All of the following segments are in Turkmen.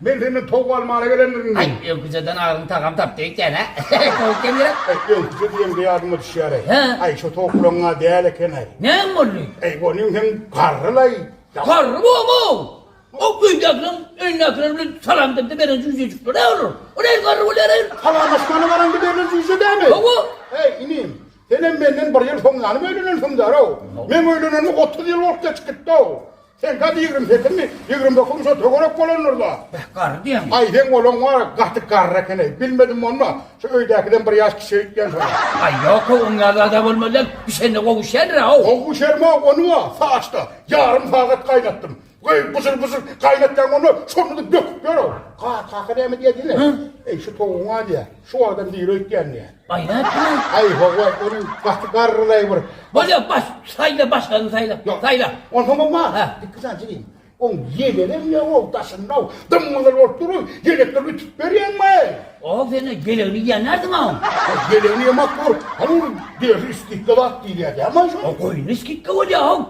Men senden towuk almana gelendirin diýdi. Aý, öküzeden agyň tagam tapdy eken-ä. Towuk demirek. Aý, öküze diýeňde ýadyma düşýär-eý. Hä? Aý, şo towuklaryň-a däl eken-eý. Näme boldy? Aý, onuň hem garry-laý. Garry bor-ow! Ol öýdäkileriň öýündäkiler bilen salamlaşanda beren jüýjejikleri-ä olar. O nähili garry bolýar-eý? Salamlaşmana baranda berlen jüýje dälmi? Hawa. Äý, inim, senem menden bir ýyl soň ýanym öýlenensiňdär-ow. Meň öýlenenime otuz ýyl bolup geçip gitdi-ow. Sen gaty ýigrimi sekizmi, ýigrimi dokuzmy şo töwerek bolandyr-la? Beh, garry diýýäňmi? Aý, seň olaň bar, gaty garry eken-eý. Bilmedim monma, şo öýdäkiden bir ýaş kiçi öýtýän şoňa. Aý, ýok-ow, oň ýaly zat-a bolmaz lan. Bişende gowuşýandyr-ow. Gowuşarm-a, ony-a saçda ýarym sagat gaýnatdym. Goý, byjyr-byjyr gaýnatýaň bolmaz, şonda-da böküp ýör-ow. Kakasy näme diýýär diýme. Eý, şu towugyň-a diýýär. Şu adam nire öýtýän diýýär. Aý nätdiňiz? Aý howa ony gaty garrylaý bir. Bolýa baş saýla başgany saýla. Ýok. Saýla. Onsoň oňa Hä. iki sany çigim. Oň ýelenem ýa ol daşynda dymgylyr bolup duruň. Ýelekleri ütüp berýäňmi? O seni gelegini ýen närdin a oň. Ýelegini ýemak bor. Hany ol derisi skidka zat diýilýär dämi aý şol? O goýny skidka bolýa oň.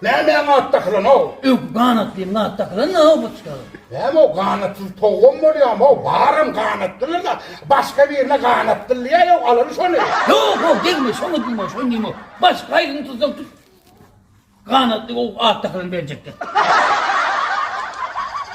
Näme aň at dakylan how. Öw ganat diýip nat dakylan how bu çykaga. Näme o ganatsyz towugam bolýar how baram ganatlylar da başga birine ganat dylýar how alaly şony. Ýok how degme şoňa dymma şony diýme how başga haýryny tutsaň tut ganatly how at dakylan berjekdir.